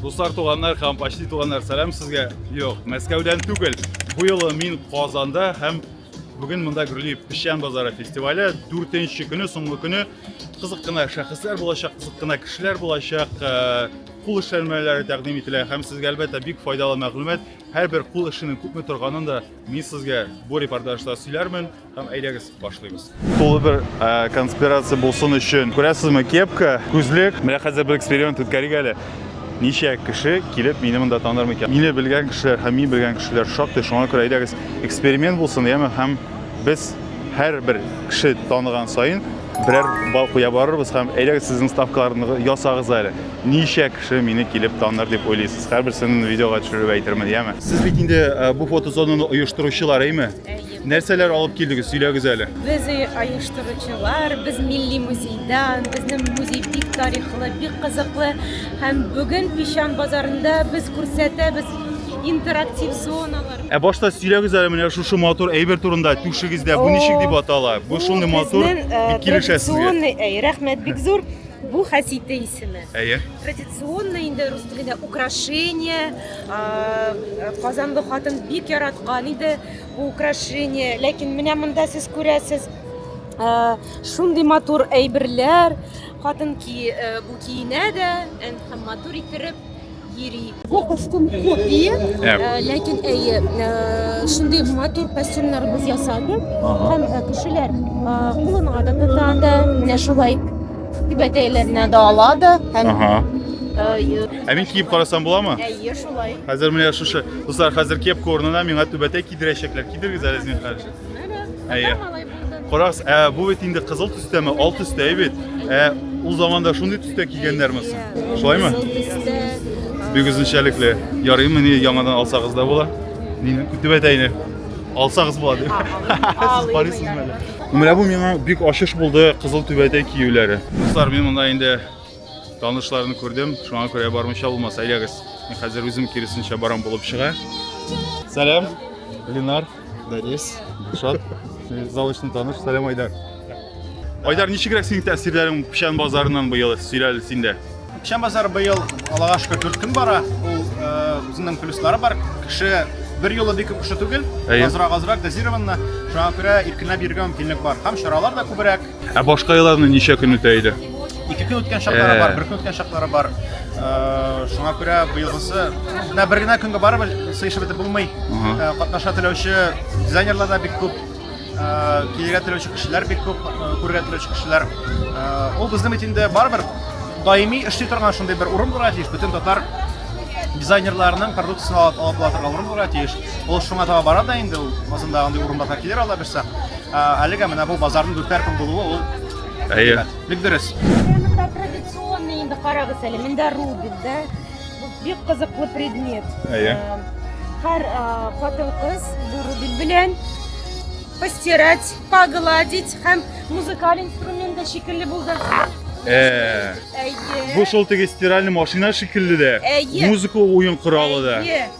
Дуслар, туганнар һәм почти туганнар, сәлам сезгә. Юк, Мәскәүдән түгел. Бу юлы мин Казанда һәм бүген монда гөрли Печән базары фестивале 4нче көне, соңгы көне. Кызык кына шәхесләр булачак, кызык кына кешеләр булачак. Э, кул эшләнмәләре тәкъдим ителә һәм сезгә әлбәттә бик файдалы мәгълүмат. Һәрбер кул эшенең күпме торганын да мин сезгә бу репортажда сөйләрмен. Һәм әйдәгез, башлыйбыз. Тулы бер э, конспирация булсын өчен. Күрәсезме, кепка, күзлек. Менә хәзер бер эксперимент үткәрик әле. Ничә кеше килеп мине монда таныр микән? Мине белгән кешеләр һәм мин белгән кешеләр шактый. Шуңа күрә әйдәгез, эксперимент булсын, яме һәм без һәр бер кеше таныган саен берәр бал куя барырбыз һәм әйдәгез сезнең ставкаларны ясагыз әле. Ничә кеше мине килеп таныр дип уйлыйсыз? Һәрберсен видеога төшереп әйтермен, яме. Сез бит инде э, бу фотозонаны оештыручылар, әйме? Нәрсәләр алып килдегез, сөйләгез әле. Без оештыручылар, без милли музейда, безнең музей бик тарихлы, бик кызыклы. Һәм бүген Пищан базарында без күрсәтәбез интерактив зоналар. Ә башта сөйләгез әле менә шушы матур әйбер турында түшегездә бу ничек дип атала? Бу шундый матур э, бик килешә сезгә. Э, рәхмәт бик зур. Бу хәсите исеме. Әйе. Традиционный инде рус телендә украшение. Казанлы хатын бик яраткан иде. Бу украшение, ләкин менә монда сез күрәсез, шундый матур әйберләр, хатын ки бу киенә дә, һәм матур иттереп йөри. Бу костюм копия, ләкин әйе, шундый матур костюмнар без ясадык, һәм кешеләр кулына да тота да, менә шулай түбәтәйләренә дә ала да, һәм Ә мин киеп карасам буламы? Әйе, шулай. Хәзер менә шушы Дуслар, хәзер кепка урынына миңа түбәтәй кидерәчәкләр. Кидергез әле, зинһар. Әйе. Карагыз, ә бу бит инде кызыл төстәме, ал төстә бит. Ә ул заманда шундый төстә кигәннәрме соң? Шулаймы? Бик үзенчәлекле. Ярыймы ни яңадан алсагыз да була? Нинди түбәтәйне? Алсагыз була дип. Сез карыйсызмы әле? Менә бу миңа бик ачыш булды кызыл түбәтәй киюләре. Дуслар, мин монда инде Танышларны күрдем, шуңа күрә бармыйча булмас. Әйдәгез, мин хәзер үзем киресенчә барам булып чыга. Сәлам, Ленар, Данис, Шат. Залышны таныш, сәлам Айдар. Айдар, ничегрәк синең тәэсирләрең Печән базарыннан быел сөйләле синдә? Печән базары быел Аллага шөкер дүрт көн бара. Ул э, үзенең плюслары бар. Кеше бер юлы бик күп кеше түгел, азрак азрак дозированно. Шуңа күрә иркенләп йөрергә мөмкинлек бар. Һәм чаралар да күбрәк. Ә башка елларны ничә көн үтә иде? Ике көн үткән чаклары бар, бер көн үткән чаклары бар. Шуңа күрә быелгысы менә бер генә көнгә барып сыешып бетеп булмый. Катнаша теләүче дизайнерлар да бик күп. Килергә теләүче кешеләр бик күп, күрергә теләүче кешеләр. Ул безнең бит инде барыбер даими эшли торган шундый бер урын булырга тиеш. Бөтен татар дизайнерларының продукциясен алып алып була торган урын булырга тиеш. Ул шуңа таба бара да инде ул. Азында андый урыннарга килер алла бирсә. Әлегә менә бу базарның дүртәр көн булуы ул Әйе. Бик дөрес. Монда традиционный инде карагыз әле. Монда рубин, да? Бик кызыклы предмет. Әйе. Э, һәр э, хатын-кыз бу рубин белән постирать, погладить һәм музыкаль инструмент да шикелле булды. Э. Әйе. Бу шул теге стиральный машина шикелле дә. Әйе. Музыка уен коралы да. Әйе.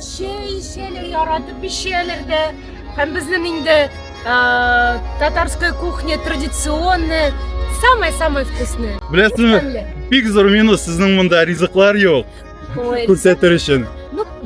чәй эчәләр, яратып эчәләр дә. Һәм безнең инде татарская кухня традиционная, самая-самая вкусная. Беләсезме? Бик зур минус сезнең монда ризыклар юк. Күрсәтер өчен.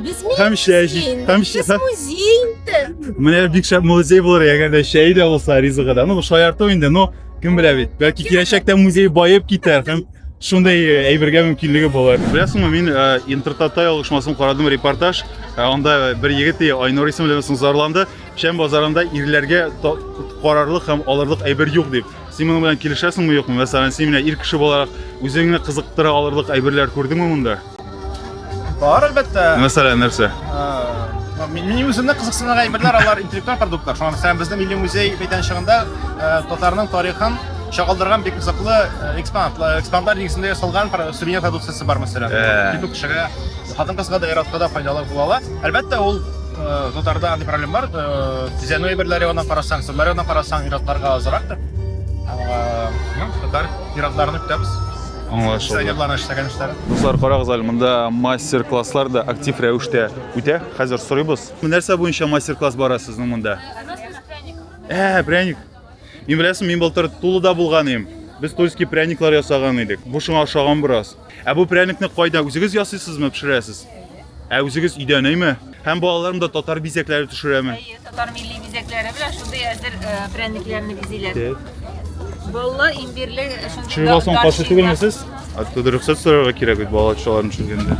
Без һәм чәй һәм музей инде. Менә бик шәп музей булыр, әгәр дә чәй дә булса ризыгы да. Ну, шаярту инде, но кем белә бит. Бәлки киләчәктә музей баеп китәр һәм шундай э, әйбергә мөмкинлеге булыр беләсеңме мин э, интертатай алышмасын карадым репортаж э, анда бер егет айнур исемле зарланды шәм базарында ирләргә карарлык һәм алырлык әйбер юк дип син моның белән килешәсеңме юкмы мәсәлән син менә ир кеше буларак үзеңне кызыктыра алырлык әйберләр күрдеңме монда Бар, әлбәттә. Мәсәлән, нәрсә? Минем үземне кызыксындырган әйберләр алар интеллектуаль продуктлар. Шуңа күрә безнең милли музей мәйданчыгында татарның тарихын чагылдырган бик кызыклы экспонат, экспонат нигезендә ясалган сувенир продукциясе бар, мәсәлән. Бик кешегә, хатын-кызга да, ир-атка да файдалы була ала. Әлбәттә, ул татарда андый проблем бар. Бизәнү әйберләре ягына карасаң, сырлар ягына карасаң, ир-атларга азрак. Татар ир-атларны көтәбез. Дуслар, карагыз әле, монда мастер-класслар да актив рәвештә үтә. Хәзер сорыйбыз. Нәрсә буенча мастер-класс бара сезнең монда? Ә, пряник. Мин беләсең, мин былтыр Тулыда булган идем. Без тульский пряниклар ясаган идек. Бу шуңа ошаган бераз. Ә бу пряникны кайда үзегез ясыйсызмы, пешерәсез? Ә үзегез өйдә нәйме? Һәм балаларым да татар бизәкләре төшерәме? Әйе, татар милли бизәкләре белән шундый әзер э, прәнекләрне бизиләр. Балла имбирле э, шундый Чыгыга соң каршы түгелме сез? Оттуда рөхсәт сорарга кирәк бит балалар төшергәндә. төшергәндә.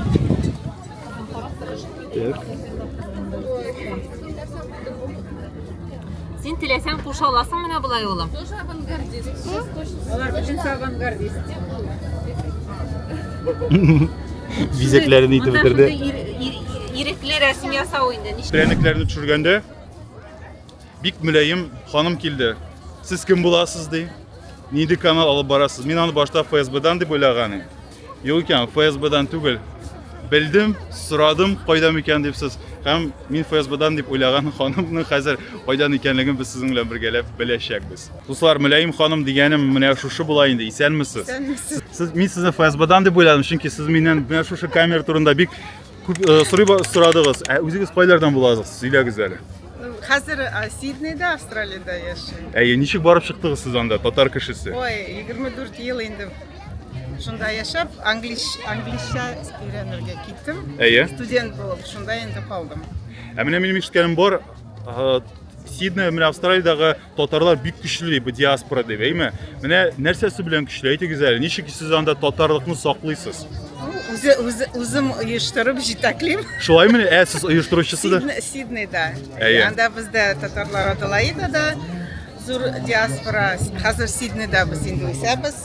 Так. Син теләсәң куша аласың менә болай улым. Тоже авангардист. Алар бөтен авангардист. Бизәкләрен итеп бетерде. Ирекле рәсем ясау инде. Пряникләрне төшергәндә бик мөләем ханым килде. Сез кем буласыз ди? Нинди канал алып барасыз? Мин аны башта ФСБдан дип уйлаган идем. Юк икән, ФСБдан түгел. Белдем, сорадым, кайда микән дип сез. Һәм мин ФСБдан дип уйлаган ханымның хәзер кайдан икәнлеген без сезнең белән бергәләп беләчәкбез. Дуслар, Мөләем ханым дигәнем менә шушы була инде. Исәнмесез? Исәнмесез. Сез мин сезне ФСБдан дип уйладым, чөнки сез миннән менә шушы камера турында бик күп э, сорый сорадыгыз. Ә үзегез кайлардан буласыз? Сөйләгез әле. Хәзер э, Сиднейда, Австралиядә яшәйм. Әйе, ничек барып чыктыгыз сез анда, татар кешесе? Ой, 24 ел инде Шунда яшәп, англиш, англишча өйрәнергә киттем. Әйе. Студент булып, шунда инде калдым. Ә менә минем ишеткәнем бар, ага, Сидней, менә Австралиядәге татарлар бик көчле дип, диаспора дип, әйме? Менә нәрсәсе белән көчле? Әйтегез әле, ничек сез анда татарлыкны саклыйсыз? Үзе, үзе, үзем оештырып җитәклим. Шулай менә, ә сез оештыручысы да? Сидне- Сиднейда. Әйе. Анда бездә татарлар Аделаидада зур диаспора. Хәзер Сиднейда без инде үсәбез.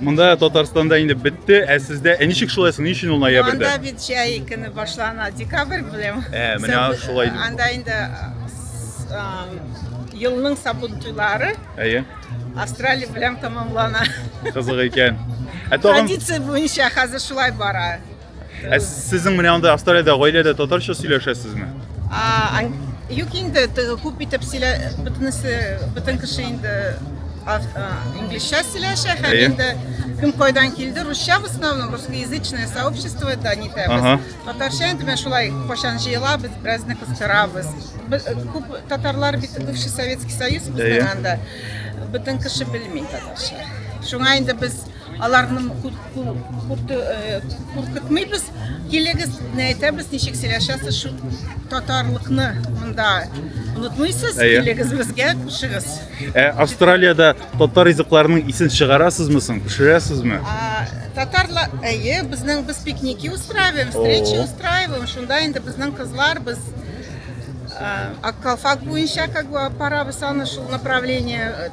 Монда Татарстанда инде бетте, ә сездә ә ничек шулай соң? Ни өчен ул ноябрьдә? Анда бит җәй көне башлана, декабрь белән. Ә, менә Саб- шулай. Анда инде а, елның сабын туйлары Әйе, Австралия белән тәмамлана. кызык икән. Ә тагын Традиция буенча хәзер шулай бара. Ә сезнең менә анда Австралиядә гаиләдә татарча сөйләшәсезме? А, юк инде, күп итеп сөйлә, бөтенесе, бөтен кеше инде инглизчә сөйләшә һәм инде кем кайдан килде русча в основном русскоязычное сообщество да не ага. татарча инде мен шулай кайчан җыелабыз беразны кыстырабыз күп татарлар бит бывший советский союз безнең анда бөтен кеше белми татарча шуңа инде без Аларны куркытмыйбыз, килегез, әйтәбез, ничек сөйләшәсез, шу татарлыкны монда онытмыйсыз, килегез безгә, кушыгыз. Ә Австралиядә татар ризыкларының исен чыгарасызмы соң, пешерәсезме? Татарлар, әйе, безнең без пикники устраиваем, встречи устраиваем, шунда инде безнең кызлар, без Аккалфак буенча как бы апарабыз аны шул направление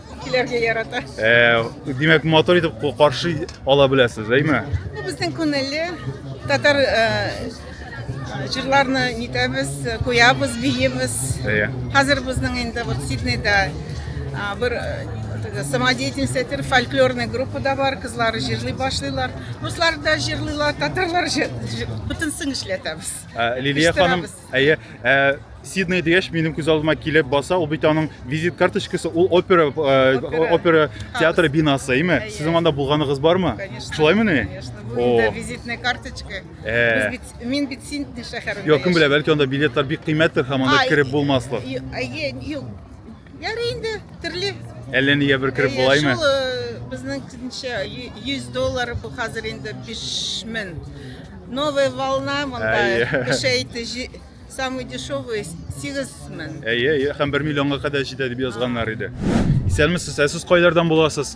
Килергә ярата. Э, димәк, мотор итеп каршы ала беләсез, әйме? Бу безнең күңелле татар җырларны э, нитәбез, куябыз, биебез. Хәзер безнең инде вот Сиднейда бер э, самодеятельностьтер фольклорный группа да бар, кызлар җырлый башлыйлар. Руслар да җырлыйлар, татарлар бөтенсен эшләтәбез. Лилия ханым, Әйе, ә Сидней дигәч, минем күз алдыма килеп баса, ул бит аның визит карточкасы, ул опера э, опера театры бинасы, әйме? Сезнең анда булганыгыз бармы? Конечно. Шулаймы ни? Конечно. Бу инде визитная карточка. Э. Без бит мин бит Сидней шәһәрендә. Юк, кем белә, бәлки анда билетлар бик кыйммәттер һәм анда кереп булмаслык. Әйе, юк. Ярый инде, терле. Әллә нигә бер кереп булаймы? Шул э, безнең кенчә 100 доллар бу хәзер инде 5000. Новая волна монда кешәйте самый дешевый 8000. Әйе, әйе, һәм 1 миллионга кадәр җитә дип язганнар иде. Исәнмесез, ә сез кайлардан буласыз?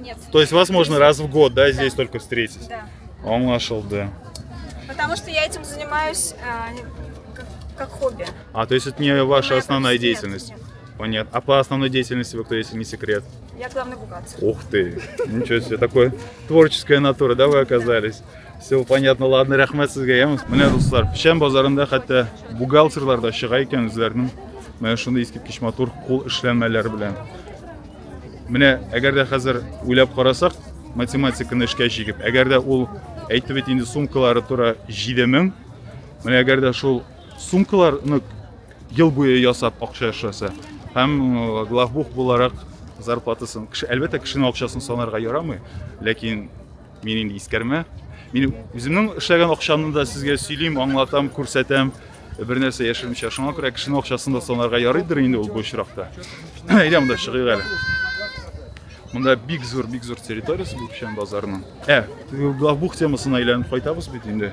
Нет. То есть вас можно раз в год, да, здесь да. только встретить? Да. Он нашел, да. Потому что я этим занимаюсь а, как, как хобби. А, то есть это не ваша Моя основная деятельность? Нет, нет. Понятно. А по основной деятельности вы кто, если не секрет? Я главный бухгалтер. Ух ты! Ничего себе, такое творческая натура, да, вы оказались? Все понятно, ладно, рәхмәт сезгә, яме. Менә дуслар, печән базарында хәтта бухгалтерлар да чыга икән үзләренең менә шундый искиткеч матур кул эшләнмәләре белән. Менә әгәр дә хәзер уйлап карасак, математиканы эшкә җигеп, әгәр дә ул әйтте бит инде сумкалары тора 7000. Менә әгәр дә шул сумкаларны ел буе ясап акча эшләсә һәм э, главбух буларак зарплатасын кеше әлбәттә кешенең акчасын санарга ярамый ләкин Мин инде искәрмә. Мин үземнең эшләгән акчамны да сезгә сөйлим, аңлатам, күрсәтәм. Бер нәрсә яшермичә. Шуңа күрә кешенең акчасын да санарга ярыйдыр инде ул бу очракта. Әйдә монда чыгыйк әле. Монда бик зур, бик зур территориясе бу печән базарының. Ә, бу темасына әйләнеп кайтабыз бит инде.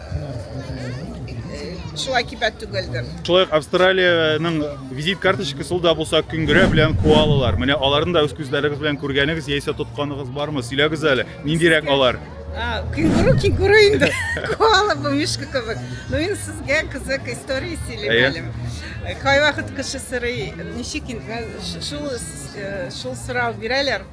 Шулай кибәт түгелдер. Шулай Австралиянең визит карточкасы да булса күңгерә белән куалылар. Менә аларны да үз күзләрегез белән күргәнегез яисә тотканыгыз бармы? Сөйләгез әле. Ниндирәк алар? Кенгуру, кенгуру инде. Куала бу мишка кебек. Ну инде сезгә кызык история сөйләмәлем. Кайвакыт кеше сорый, ничек инде шул шул сорау бирәләр.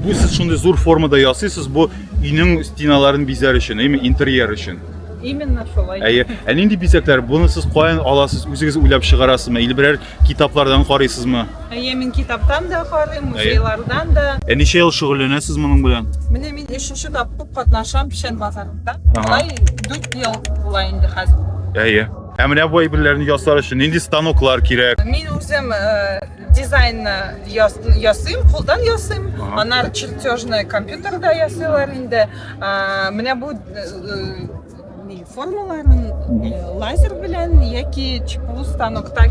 Бу сез шундый зур формада ясыйсыз, бу өйнең стеналарын бизәр өчен, яме интерьер өчен. Именно шулай. Әйе. Ә нинди бизәкләр? Буны сез каян аласыз? Үзегез уйлап чыгарасызмы? Или берәр китаплардан карыйсызмы? Әйе, мин китаптан да карыйм, музейлардан да. Ә ничә ел шөгыльләнәсез моның белән? Менә мин өченче тапкыр катнашам Печән базарында. Алай 4 ел була инде хәзер. Әйе. Ә менә бу әйберләрне ясар өчен нинди станоклар кирәк? Мин үзем э, Дизайнны ясыйм, кулдан ясыйм. Анар чертежны компьютерда ясыйлар инде. Менә бу формаларын лазер белән яки ЧПУ станокта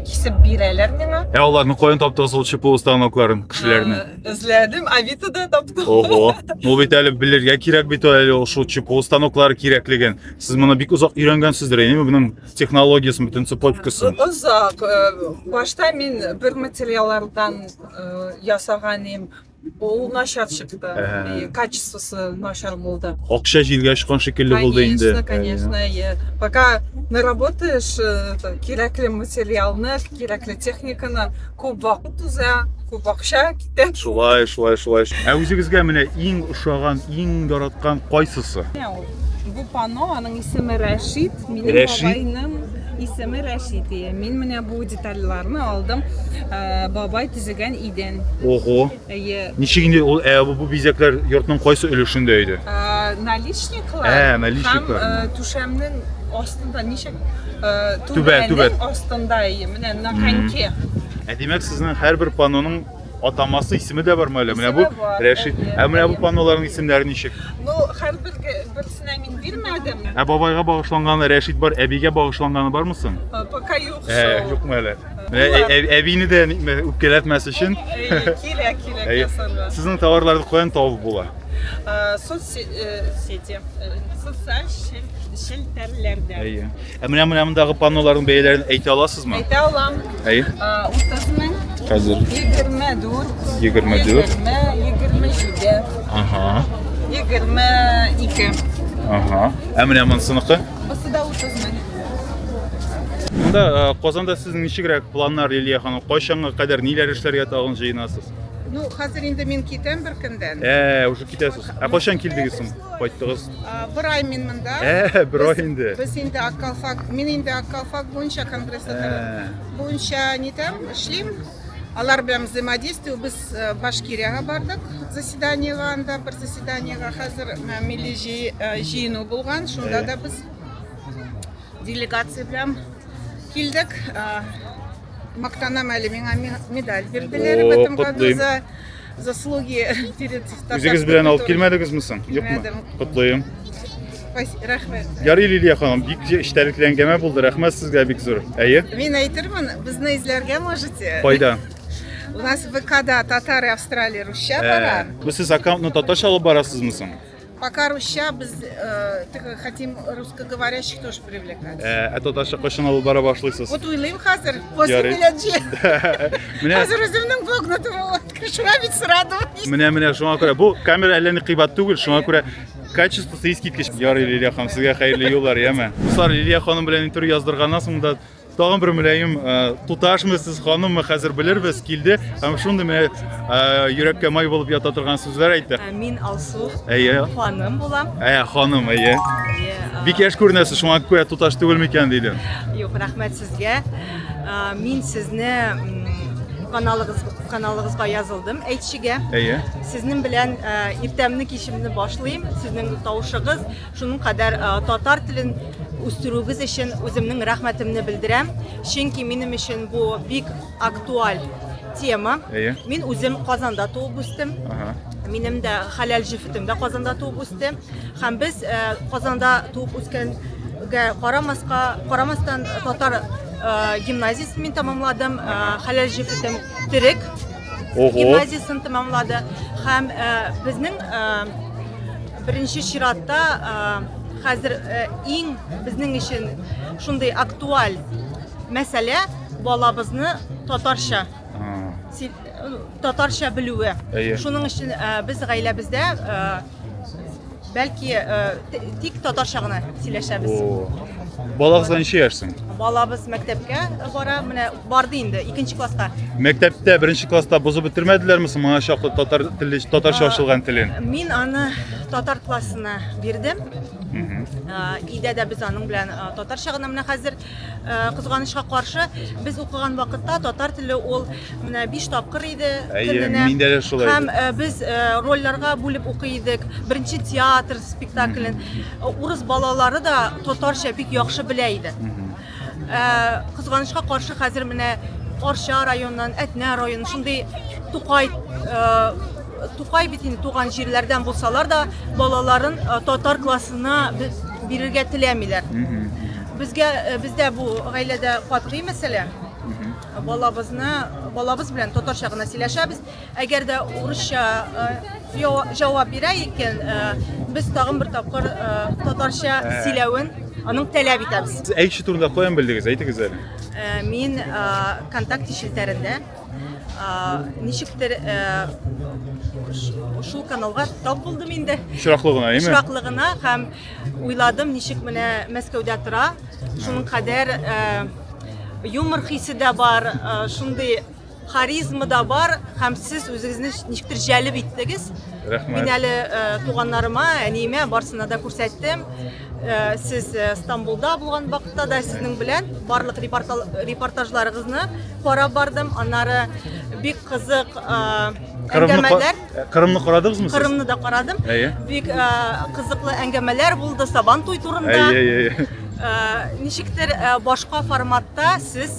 кисеп бирәләр миңа. Ә аларны каян таптыгыз ул ЧПУ станокларын, кешеләрне? Эзләдем, Авитода таптым. Ого. Ул бит әле белергә кирәк бит әле ошо ЧПУ станоклары кирәклеген. Сез моны бик озак өйрәнгәнсездер, әйеме? Моның технологиясен бөтен цепочкасын озак башта мин бер материаллардан ясаган идем ул начар чыкты и качествосы начар булды акча җилгә очкан шикелле булды инде конечно конечно иә пока наработаешь кирәкле материалны кирәкле техниканы күп вакыт уза күп акча китә шулай шулай шулай ә үзегезгә менә иң ошаган иң яраткан кайсысы бу панно аның исеме рәшит Минем Рәшит. бабайның исеме Рәшит ие. Мин менә бу детальларны алдым. Ә, Бабай төзегән идән. Ого. Ие. Ничек инде ул ә, бу, бу бизәкләр йортның кайсы өлешендә иде? Ә, Наличниклар Ә, наличниклар. һәм ә, түшәмнең астында ничек ә, Түбә, түбәнең түбә. астында ие. Менә на коньке. Ә димәк, сезнең һәрбер паноның Атамасы, исеме дә бармы әле? Менә бу Исеме бар, Рәшит. әйе, Ә менә бу әйе. панноларның исемнәре ничек? Ну, һәрбер берсенә мин бирмәдем. Ә бабайга багышланганы Рәшит бар, әбигә багышланганы бармы соң? Э, Пока юк Ә, шул. юкмы әле? Менә Булар. ә- ә- әбине дә ник- мә- үпкәләтмәс өчен. Әйе, кирәк, кирәк Әйе. ясарга. Сезнең товарларны каян табып була? Э, Соцсети, э, социаль шел- челтәрләрдә. Әйе. Ә менә менә мондагы панноларның бәяләрен әйтә аласызмы? Әйтә алам. Әйе. Утызның хәзер 24. 24. 27. Ага. 22. Ага. Ә менә монсыныкы? Бусы да 30 мең. Монда э, Казанда сезнең ничегрәк планнар Лилия ханым? Кайчанга кадәр ниләр эшләргә тагын җыенасыз? Ну, хәзер инде мин китәм бер көндән. Ә, уже китәсез. Ә кайчан килдегез соң? Кайттыгыз? Бер ай мин монда. Ә, бер ай инде. Без инде Аккалфак, мин инде Аккалфак буенча конгресста ә. буенча нитәм, эшлим. Алар белән взаимодействие без э, Башкириягә бардык заседаниега анда бер заседаниега хәзер э, милли э, җыену булган, шунда да без делегация белән килдек. Мактанам әле миңа медаль бирделәр в этом году за заслуги перед Үзегез белән алып килмәдегезме соң? Юкмы? Килмәдем. Котлыйм. Спасибо, рәхмәт. Ярый Лилия ханым, бик эчтәлекле әңгәмә булды. Рәхмәт сезгә бик зур. Әйе? Мин әйтермен, безне эзләргә можете. Кайда? У нас в ВКда татары Австралия русча Ә, бара. Бу сез аккаунтны татарча алып барасызмы соң? Пока русча, без э, тик хотим русскоговорящих тоже привлекать. Ә, ә татарча кайчан алып бара башлыйсыз? Вот уйлыйм хәзер, после Ярый. беләнче. Менә Хәзер үземнең вогнутым вот, шуңа бит сорадым. менә менә шуңа күрә бу камера әллә ни кыйбат түгел, шуңа күрә качествосы искиткеч. Ярый, Лилия ханым, сезгә хәерле юллар, яме. Дуслар, Лилия ханым белән интервью яздырганнан соң да Тагын бер мөлаем туташмы сез ханыммы хәзер белербез килде һәм шундый менә йөрәккә май булып ята торган сүзләр әйтте. Ә, мин Алсу. Әйе. Ханым булам. Әйе, ханым, әйе. Бик яшь күренәсез, шуңа күрә туташ түгел микән диде. Юк, рәхмәт сезгә. Мин сезне каналыгыз каналыгызга язылдым әйтчегә әйе сезнең белән иртәмне кичемне башлыйм сезнең тавышыгыз Шуның кадәр татар телен үстерүегез өчен үземнең рәхмәтемне белдерәм, чөнки минем өчен бу бик актуаль тема. Әйе. Мин үзем Казанда туып үстем. Ага. Минем дә хәләл җефетем дә Казанда туып үсте. Һәм без э, Казанда туып үскәнгә карамаска, карамастан татар э, гимназиясен мин тәмамладым. Э, хәләл җефетем төрек гимназиясен тәмамлады. Һәм безнең Беренче чиратта хәзер иң безнең өчен шундый актуаль мәсьәлә балабызны татарча татарча белүе. Шуның өчен без гаиләбездә бәлки тик татарча гына сөйләшәбез. Балагызга ничә яшь соң? Балабыз мәктәпкә бара. Менә Барды инде, икенче класска. Мәктәптә беренче класста бозып бетермәделәрме соң моңа чаклы татар теле, татарча ачылган телен? Мин аны татар классына бирдем. Өйдә дә без аның белән татарча гына менә хәзер кызганычка каршы без укыган вакытта татар теле ул менә 5 тапкыр иде көненә. Миндә дә шулай. Һәм без рольләргә бүлеп укый идек. Беренче театр спектаклен урыс балалары да татарча бик яхшы белә иде. Кызганычка каршы хәзер менә Арча районыннан, Әтнә районы, шундый Тукай Тукай бит инде туган җирләрдән булсалар да, балаларын татар классына бирергә теләмиләр. Безгә бездә бу гаиләдә катгый мәсьәлә. Балабызны балабыз белән татарча гына сөйләшәбез. Әгәр дә урысча җавап бирә икән, без тагын бер тапкыр татарча сөйләвен аның таләп итәбез. Сез әй кеше турында каян белдегез? Әйтегез әле. Мин контакт челтәрендә ничектер шул каналга тап булдым инде. Очраклы гына, әйме? Очраклы гына һәм уйладым, ничек менә Мәскәүдә тора, шуның кадәр юмор хисе дә бар, шундый харизма да бар һәм сез үзегезне ничектер җәлеп иттегез рәхмәт мин әле э, туганнарыма әниемә барсына да күрсәттем э, сез э, стамбулда булган вакытта да сезнең белән барлык репортажларыгызны карап бардым аннары бик кызык әңгәмәләр кырымны карадыгызмы сез кырымны да карадым бик кызыклы әңгәмәләр булды сабан туй турында ничектер башка форматта сез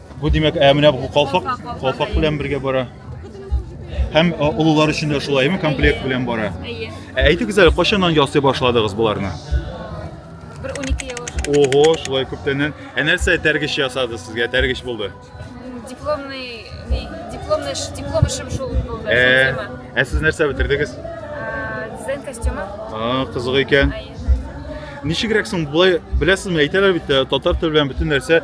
Бу димәк, ә менә бу калфак, калфак белән бергә бара. Һәм олылар өчен дә шулаймы, комплект белән бара. Әйе. Ә әйтегез әле, кайчаннан ясый башладыгыз буларны? Бер 12 ел. Ого, шулай күптәннән. Ә нәрсә тәргеш ясады сезгә? Тәргеш булды. Дипломный, не, дипломный, диплом эшем шул булды. Ә, ә сез нәрсә бетердегез? Дизайн костюмы. А, кызык икән. Әйе. Ничегрәк соң, былай, беләсезме, әйтәләр бит, татар теле белән бөтен нәрсә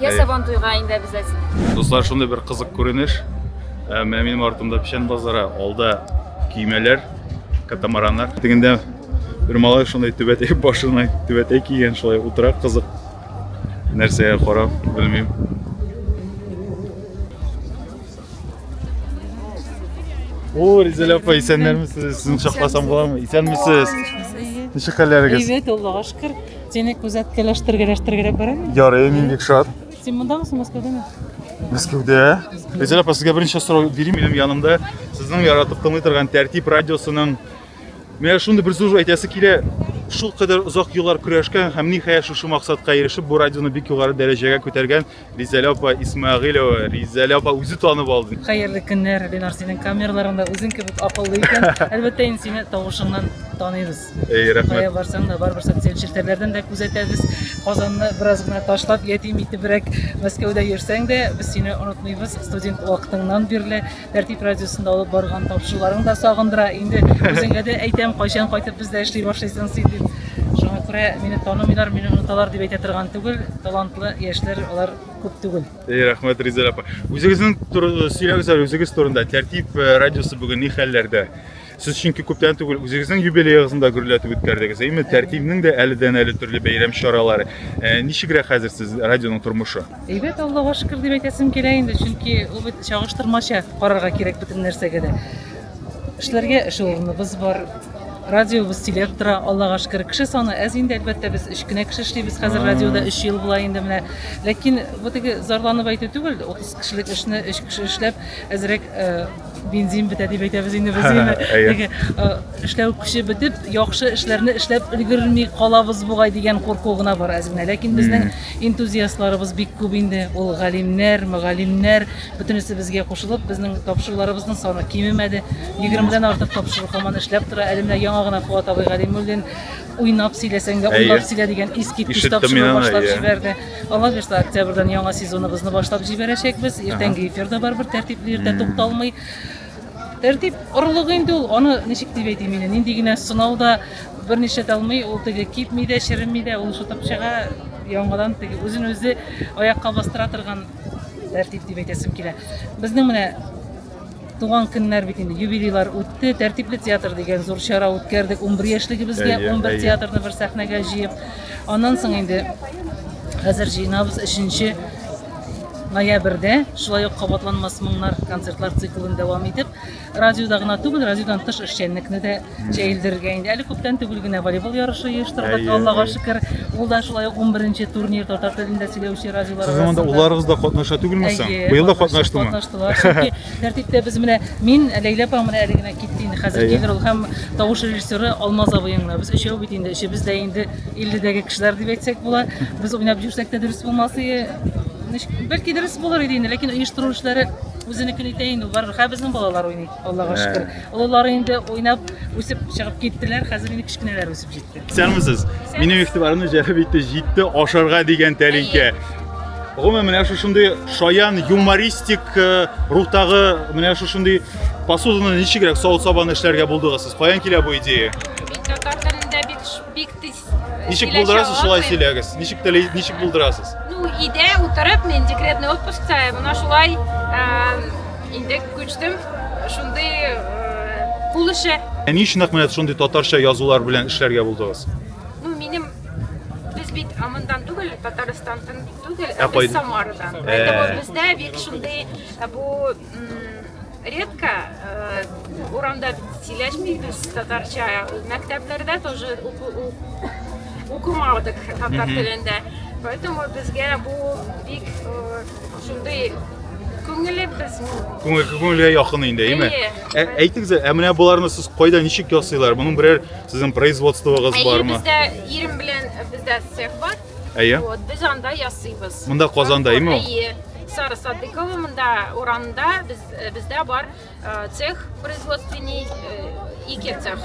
Я сабан туйга инде обязательно. Дуслар, шундый бер кызык күренеш. Ә, менә минем артымда печән базары, алда көймәләр, катамараннар. Тегендә бер малай шундый түбәтәй башына түбәтәй кигән, шулай утыра кызык. Нәрсәгә карап, белмим. О, Ризәл апа, исәннәрмесез? Сезне шакласам буламы? Исәнмесез? Ничек хәлләрегез? Әйбәт, Аллага шөкер. Сине күзәткәләштергәләштергәләп барам. Ярый, мин бик шат. Син мондамысың, Мәскәүдәме? Мәскәүдә. Ризәл апа, сезгә беренче сорау бирим. Минем янымда сезнең яратып тыңлый торган Тәртип радиосының Менә шундый бер сүз әйтәсе килә. Шул кадәр озак еллар көрәшкән һәм ниһаять шушы максатка ирешеп, бу радионы бик югары дәрәҗәгә күтәргән Ризәлә апа Исмәгыйлова, Ризәлә апа үзе танып алды. Хәерле көннәр, Ленар, синең камераларыңда үзең кебек акыллы икән. Әлбәттә, инде сине тавышыңнан таныйбыз. Эй, рәхмәт. Кая барсаң да, барыбер социаль челтәрләрдән дә күзәтәбез. Казанны бераз гына ташлап, ятим итебрәк Мәскәүдә йөрсәң дә, без сине онытмыйбыз. Студент вакытыңнан бирле Тәртип радиосында алып барган тапшыруларың да сагындыра. Инде үзеңә дә әйтәм, кайчан кайтып бездә эшли башлыйсың син дип. Шуңа күрә мине танымыйлар, мине оныталар дип әйтә торган түгел. Талантлы яшьләр алар күп түгел. Эй, рәхмәт, Ризәл апа. Үзегезнең турында сөйләгез әле, үзегез турында. Тәртип э, радиосы бүген ни хәлләрдә? Сез чөнки күптән түгел үзегезнең юбилеегызны да гөрләтеп үткәрдегез. Әйме, тәртибнең дә әледән әле төрле бәйрәм чаралары. Э, ничегрәк хәзер сез радионың тормышы? Әйбәт, Аллага шөкер дип әйтәсем килә инде, чөнки ул бит чагыштырмача карарга кирәк бөтен нәрсәгә дә. Эшләргә эш урыныбыз бар, радиобыз сөйләп тора аллага шөкер кеше саны әз инде әлбәттә без өч кенә кеше эшлибез хәзер радиода өч ел була инде менә ләкин бу теге зарланып әйтү түгел утыз кешелек эшне өч кеше эшләп әзрәк э, Бензин бетә дип әйтәбез инде без инде. Әйе. Э, эшләү көче бетеп, яхшы эшләрне эшләп өлгерми калабыз бугай дигән курку гына бар әзмә. Ләкин безнең энтузиастларыбыз бик күп инде. Ул галимнәр, мөгаллимнәр, бөтенесе безгә кушылып, безнең тапшыруларыбызның саны кимемәде. 20 дән артык тапшыру һаман эшләп тора. Әле менә яңа гына Фуат абый Галимуллин уйнап сөйләсәң дә, уйнап сөйлә дигән искиткеч тапшыру башлап җибәрде. Алла бирса, октябрьдән яңа сезоныбызны башлап җибәрәчәкбез. Иртәнге эфир да барыбер тәртипле, иртә тукталмый. Тәртип орлыгы инде ул, аны ничек дип әйтим инде, нинди генә сынау да берничә дә алмый, ул теге кипми дә, череми дә, ул шутып чыга, яңадан теге үзен-үзе аякка бастыра торган тәртип дип әйтәсем килә. Безнең менә Туган көннәр бит инде, юбилейлар үтте, тәртипле театр дигән зур чара үткәрдек. 11 яшьлегебезгә, 11 театрны бер сәхнәгә җыеп. Аннан соң инде хәзер җыйнабыз 3 ноябрьдә шулай ук кабатланмас моңнар концертлар циклын дәвам итеп радиода гына түгел радиодан тыш эшчәнлекне дә Җәелдерергә инде. Әле күптән түгел генә волейбол ярышы оештырдык, Аллага шөкер. Ул да шулай ук 11 турнир татар телендә сөйләүче радиолар арасында. Сез монда улларыгыз да катнаша түгелме соң? Быел да катнаштымы? Катнаштылар. Чөнки тәртиптә без менә мин, Ләйлә апа менә әле генә китте инде. Хәзер килер ул һәм тавыш режиссеры Алмаз абый гына. Без өчәү бит инде, өчебез дә инде 50-дәге кешеләр дип әйтсәк була. Без уйнап йөрсәк тә дөрес булмас иде. Бәлки дөрес булыр иде инде, ләкин оештыру эшләре үзенекен итә инде, барыбер. Хә безнең балалар уйный. Аллага шөкер. Олылары инде уйнап, үсеп чыгып киттеләр, хәзер инде кечкенәләр үсеп җитте. Исәнмесез. Минем игътибарымны җәлеп итте җитте ашарга дигән тәлинкә. Гомумән, менә шушындый шаян юмористик э, рухтагы менә шушындый посуданы ничегрәк савыт-сабаны эшләргә булдыгыз сез? Каян килә бу идея? Мин татар телендә бик бик тиз Ничек булдырасыз, шулай сөйләгез. Ничек теле, ничек булдырасыз? Ну, иде утырып, мен декретный отпускта, мына шулай инде күчтем. Шундый кул эше. Ә ни өчен әкмәт шундый татарча язулар белән эшләргә булдыгыз? Ну, минем без бит амындан түгел, Татарстандан түгел, ә без Самарадан. Ә. Поэтому бездә бик шундый бу редко э, урамда сөйләшмибез татарча мәктәпләрдә тоже укымадык татар телендә поэтому безгә бу бик э, шундый күңеле без күңел күңелгә якын инде әйме ә, әйтегез ә менә боларны сез кайда ничек ясыйлар моның берәр сезнең производствогыз бармы бездә ирем белән бездә цех бар Әйе. Вот, без анда ясыйбыз. Монда Казанда, әйеме ул? Әйе. Сара Садыкова монда урамда без э, бездә бар э, цех производственный э, ике цех.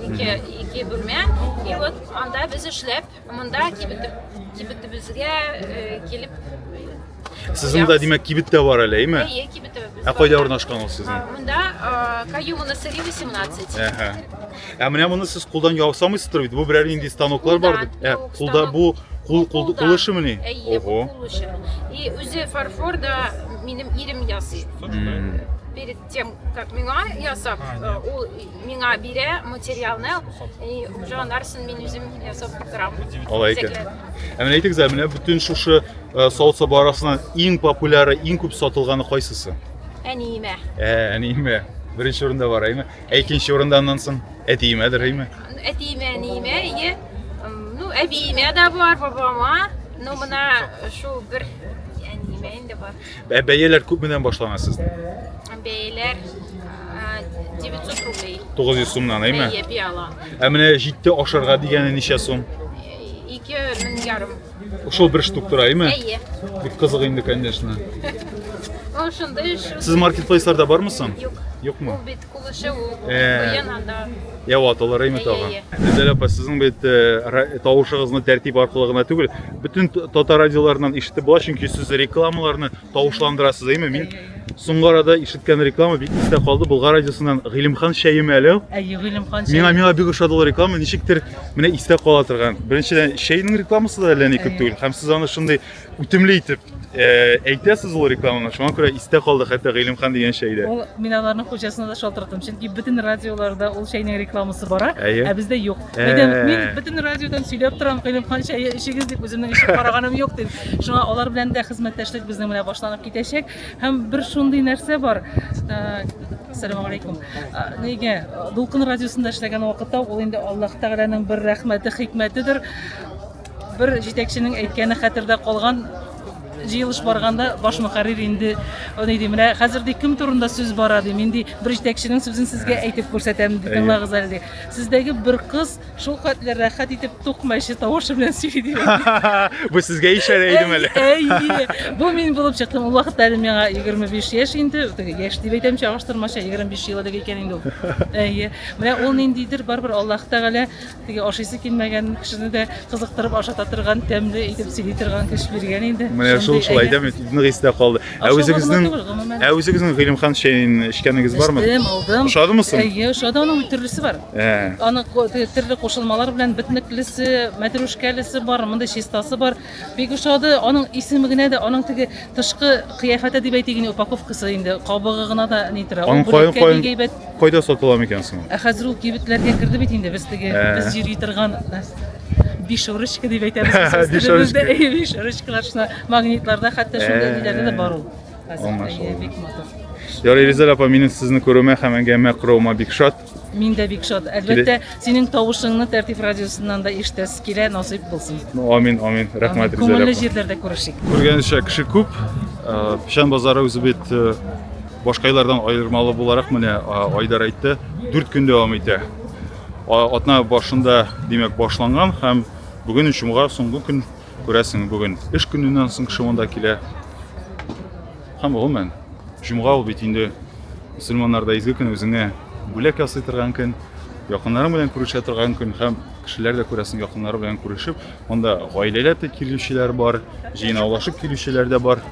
Ике ике бүлмә. И вот анда без эшләп, монда кибетеп кибетебезгә килеп Сезнең дә димәк кибет тә бар әле, әйеме? Әйе, кибетебез. Ә кайда урнашкан ул сезнең? Монда Каюмова 18. Әһә. Ә менә моны сез кулдан ясамыйсыздыр бит. Бу берәр нинди станоклар бар бит. Ә кулда бу кул кул кул эшемени? Әйе, бу кул эше. И үзе фарфор да минем ирем ясый. Перед тем, как миңа ясап, ул миңа бирә материалны, и уже анарсын мин үзем ясап торам. Алай икән. Ә менә әйтегез, менә бүтән шушы савыт саба арасыннан иң популяры, иң күп сатылганы кайсысы? Әниемә. Ә, әниемә. Беренче урында бар, әйме? Ә икенче урында аннан соң әтиемә дөрейме? Әтиемә, әниемә, ие. Ну, әбиемә дә бар, бабама. Ну, мына шул бер әниемә инде бар. Бә бәяләр күп менән башлана сездә? Бәяләр 900 рублей. 900 сумнан, әйме? Әйе, бияла. Ә менә җитте ашарга дигәне ничә сум? Ике мең ярым. Ошол бер штук тора, әйме? Әйе. Бик кызык инде, конечно. Ул шундый эш. Сез маркетплейсларда бармы соң? Юк. Юкмы? Ул бит кулышы ул. Куен анда. Я вот, алар әйме тагын. Гүзәл апа, сезнең бит тавышыгызны тәртип аркылы гына түгел, бөтен татар радиоларыннан ишетеп була, чөнки сез рекламаларны тавышландырасыз әйме мин соңгы арада ишеткән реклама бик истә калды булгар радиосыннан гыйлемхан чәеме әле әйе гыйлемхан чәе миңа миңа бик ошады ул реклама ничектер менә истә кала торган беренчедән чәйнең рекламасы да әллә ни күп түгел һәм сез аны шундый үтемле итеп э, әйтәсез ул рекламаны шуңа күрә истә калды хәтта гыйлемхан дигән чәй дә ул мин аларның хуҗасына да шалтыраттым чөнки бөтен радиоларда ул чәйнең рекламасы бара Әйе. ә бездә юк Әйдәм, мин бөтен радиодан сөйләп торам, Гыйлемхан чәе эчегез дип үземнең эчеп караганым юк дип. Шуңа алар белән дә хезмәттәшлек безнең менә башланып китәчәк. Һәм бер шундый нәрсә бар. Ассаламу алейкум. Нигә Дулкын радиосында эшләгән вакытта ул инде Аллаһ Тәгаләнең бер рәхмәте, хикмәтедер. Бер җитәкченең әйткәне хәтердә калган, җыелыш барганда баш мөхәррир инде ни ди, менә хәзер ди кем турында сүз бара ди, мин ди бер җитәкченең сүзен сезгә әйтеп күрсәтәм ди, тыңлагыз әле ди. Сездәге бер кыз шул хәтле рәхәт итеп тукмачы тавышы белән сөйли ди. Бу сезгә ишарә идем әле. Әйе, бу мин булып чыктым. Ул вакытта әле миңа 25 яшь инде, яшь дип әйтәм чагыштырмача, 25 ел элек икән инде ул. Әйе, менә ул ниндидер барыбер Аллаһ Тәгалә Теге ашыйсы килмәгән кешене дә кызыктырып ашата торган, тәмле итеп сөйли торган кеше биргән инде. Менә шул шулай әйбәт. дәме нык истә калды. Ә Ашау үзегезнең гомума түгел, гомумән. Ә үзегезнең Гыйлемхан чәен эчкәнегез бармы? Эчтем, алдым. Ошадымы соң? Әйе, ошады. Аның төрлесе бар. Ә. Аның ко- те- төрле кушылмалар белән битнеклесе, мәтрүшкәлесе бар, мондый чистасы бар. Бик ошады. Аның исеме генә дә, аның теге тышкы кыяфәте дип әйтик инде, упаковкасы инде, кабыгы гына да ни тора. Аның кайын кайын әйбәт. Кайда сатыла микән соң? Ә хәзер ул кибетләргә керде бит инде без теге ә. без йөри торган биш ручка дип әйтәбез. Биш ручка. Биш ручкалар шуна магнитларда хәтта шундый ә. ниләрдә дә бар ул. Хәзер бик матур. Ярый, Ризаль апа, минем сезне күрүемә һәм әңгәмә коруыма бик шат. Мин дә бик шат. Әлбәттә, синең тавышыңны Тәртип радиосыннан да ишетәсе килә, насыйп булсын. Ну, амин, амин. Рәхмәт, Риза. Күңелле җирләрдә күрешик. Күргәнчә кеше күп. Э, Печән базары үзе бит э, башка еллардан аермалы буларак менә э, Айдар әйтте, 4 көн дәвам итә. Атна башында, димәк, башланган һәм бүген чумга соңгы көн Күрәсең, бүген эш көненнән соң кеше монда килә. Һәм гомумән, җомга ул бит инде мөселманнарда изге көн, үзеңә бүләк ясый торган көн, якыннарың белән күрешә торган көн һәм кешеләр дә күрәсең якыннары белән күрешеп, монда гаиләләп тә килүчеләр бар, җыйнаулашып килүчеләр дә бар.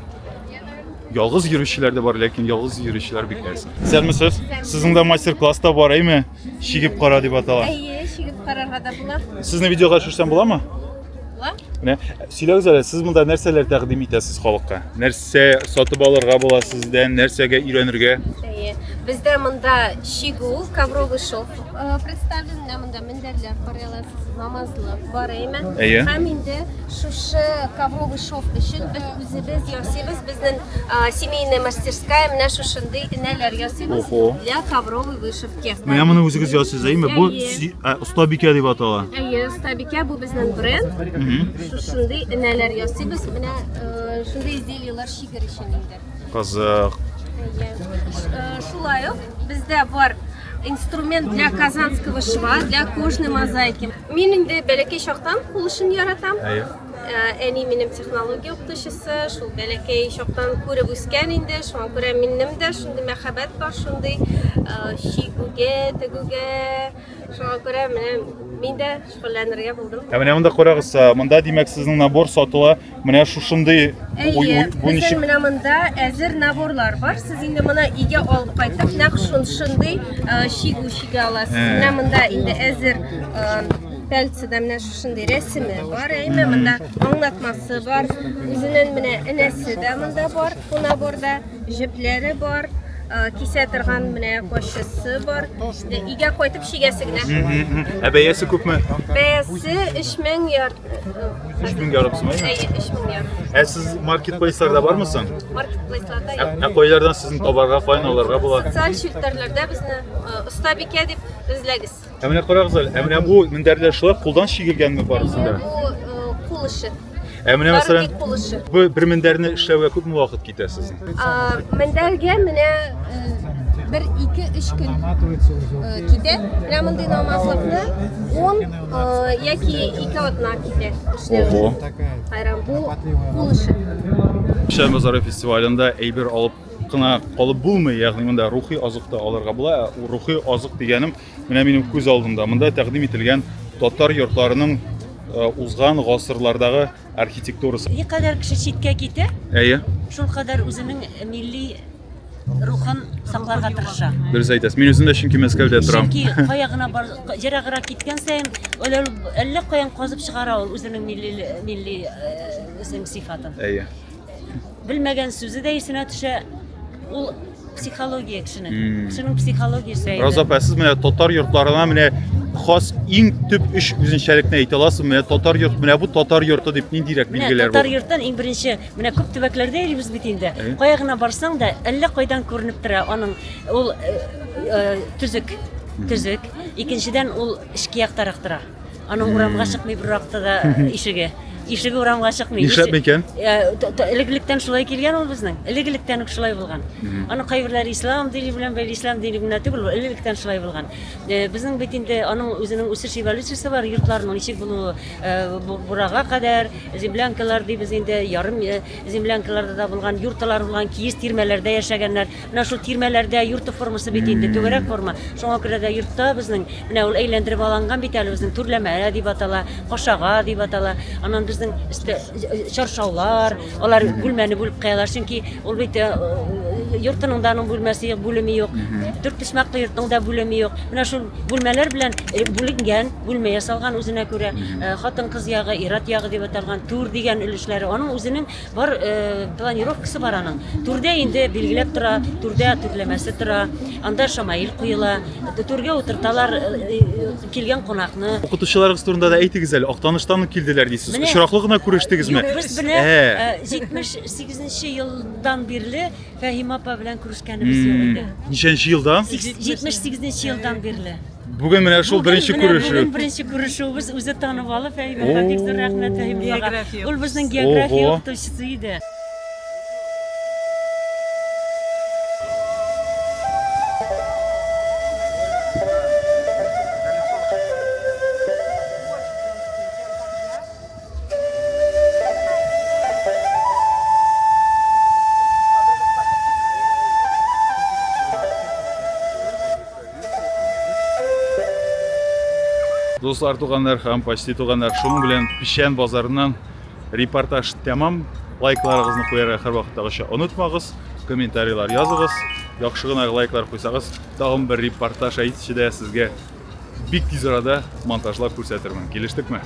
Ялгыз йөрүчеләр дә бар, ләкин ялгыз йөрүчеләр бик әз. Сәлмесез, сезнең дә мастер-класс та бар, әйме? Чигеп кара дип атала. Әйе, чигеп карарга да була. Сезне видеога төшерсәм буламы? Менә сөйләгез әле, сез монда нәрсәләр тәкъдим итәсез халыкка? Нәрсә сатып алырга була сездән, нәрсәгә өйрәнергә? Бездә монда чигү, ковровый шов э, представлен, менә монда мендәрләр карый аласыз, намазлык бар әйме? Әйе. Һәм инде шушы ковровый шов өчен без үзебез ясыйбыз, безнең э, семейная мастерская менә шушындый энәләр ясыйбыз для ковровой вышивки. Менә моны үзегез ясыйсыз, әйме? Бу остабикә дип атала. Әйе, остабикә бу безнең бренд. Шушындый энәләр ясыйбыз. Менә э, шундый изделиеләр шигер өчен инде. Казах. Әйе. Э, шулай ук бездә бар инструмент для казанского шва, для кожной мозаики. Мин инде бәләкәй чактан кул эшен яратам. Әйе. Әни минем технология укытучысы, шул бәләкәй чактан күреп үскән инде, шуңа күрә минем дә шундый мәхәббәт бар, шундый чигүгә, тегүгә. Шуңа күрә менә мин дә шөгыльләнергә булдым. Ә менә монда карагыз, монда димәк сезнең набор сатыла. Менә шушындый бу ничек? Менә монда әзер наборлар бар. Сез инде моны өйгә алып кайтып, нәкъ шушындый чигү чигә аласыз. Менә монда инде әзер пәлцедә менә Шундый рәсеме бар, әйме монда аңлатмасы бар. Үзенен менә энәсе дә монда бар, кунаборда җепләре бар, кисә торган менә кошчысы бар. Де игә кайтып чигәсе генә. Ә бәясе күпме? Бәясе 3000 яр. 3000 ярым сумы. Әйе, 3000 яр. Ә сез маркетплейсларда бармы соң? Маркетплейсларда юк. Ә кайлардан сезне табарга, каян аларга була? Социаль челтәрләрдә безне оста бикә дип эзләгез. Ә менә карагыз әле, ә менә бу мендәрләр шулай кулдан чигелгәнме барысы да? Бу э, кул эше. Ә менә мәсәлән, Барлык кул эше. бу бер мендәрне эшләүгә күпме вакыт китә сезнең? А, Мендәргә менә э, бер ике өч көн э, китә. Менә мондый намазлыкны он э, яки ике атна китә эшләү. Хайран, бу кул эше. Шәмбазары фестивалендә әйбер алып кына калып булмый, ягъни монда рухи азык та алырга була. Ә рухи азык дигәнем менә минем күз алдымда. Монда тәкъдим ителгән татар йортларының э, узган гасырлардагы архитектурасы. Ни кадәр кеше читкә китә, Әйе, шул кадәр үзенең милли рухын сакларга тырыша. дөрес әйтәсез. Мин үзем дә чөнки Мәскәүдә торам. Чөнки кая гына бар, ераграк киткән саен, әллә әллә каян казып чыгара ул үзенең милли милли э, үзенең сыйфатын. Әйе. Белмәгән сүзе дә исенә төшә. Ул психология кешенең. Hmm. Кешенең психологиясе. Роза апа, сез менә татар йортларына менә хас иң төп өч үзенчәлекне әйтә аласыз. Менә татар йорт, менә бу татар йорты дип ниндирәк билгеләр бар? Татар йорттан иң беренче, менә күп төбәкләрдә йөрибез бит инде. Э? Кая гына барсаң да, әллә кайдан күренеп тора аның ул э, э, төзек, төзек. Икенчедән ул эчке яктарак тора. Аның урамга чыкмый бер вакытта да ишеге. Ишеге урамга чыкмый. Нишләп микән? Элек-электән шулай килгән ул безнең. Элек-электән үк шулай булган. Аны кайберләре ислам дини белән бәйле, ислам дине генә түгел, элек-электән шулай булган. Э, безнең бит инде аның үзенең үсеш эволюциясе бар, йортларның ничек булуы, э, бурага кадәр, землянкалар дибез инде, ярым э, землянкаларда да булган, юрталар булган, киез тирмәләрдә яшәгәннәр. Менә шул тирмәләрдә йорты формасы бит инде, түгәрәк форма. Шуңа күрә дә йортта безнең менә ул әйләндереп аланган бит әле безнең түрләмә дип атала, кашага дип атала. Аннан безнең өстә э, чаршаулар, алар бүлмәне бүлеп куялар, чөнки ул бит э, йортының да аның бүлмәсе юк, бүлеме юк. Дүрт почмаклы йортның да бүлеме юк. Менә шул бүлмәләр белән э, бүленгән, бүлмә ясалган үзенә күрә. Э, Хатын-кыз ягы, ират ягы дип аталган, түр дигән өлешләре. Аның үзенең Бар планировкасы бар аның. Түрдә инде билгеләп тора, түрдә түрләмәсе тора. Анда шамаил куела, түргә утырталар килгән кунакны. Укытучыларыгыз турында да әйтегез әле. Актаныштан килделәр дисез. Очраклы гына күрештегезме? Без белән 78 елдан бирле Фәһимә апа белән күрешкәнебез юк иде. Ничәнче елда? 78 елдан бирле. Бүген менә шул беренче күрешү. Бүген беренче күрешүебез үзе танып алып, Фәһимә бик зур рәхмәт Фәһимәгә. Ул безнең география укытучысы иде. Дуслар, туганнар һәм почти туганнар, шуның белән Печән базарыннан репортаж тәмам. Лайкларыгызны куярга һәр вакыттагыча онытмагыз, комментарийлар языгыз. Яхшы гына лайклар куйсагыз, тагын бер репортаж әйтүче дә сезгә бик тиз арада монтажлап күрсәтермен. Килештекме?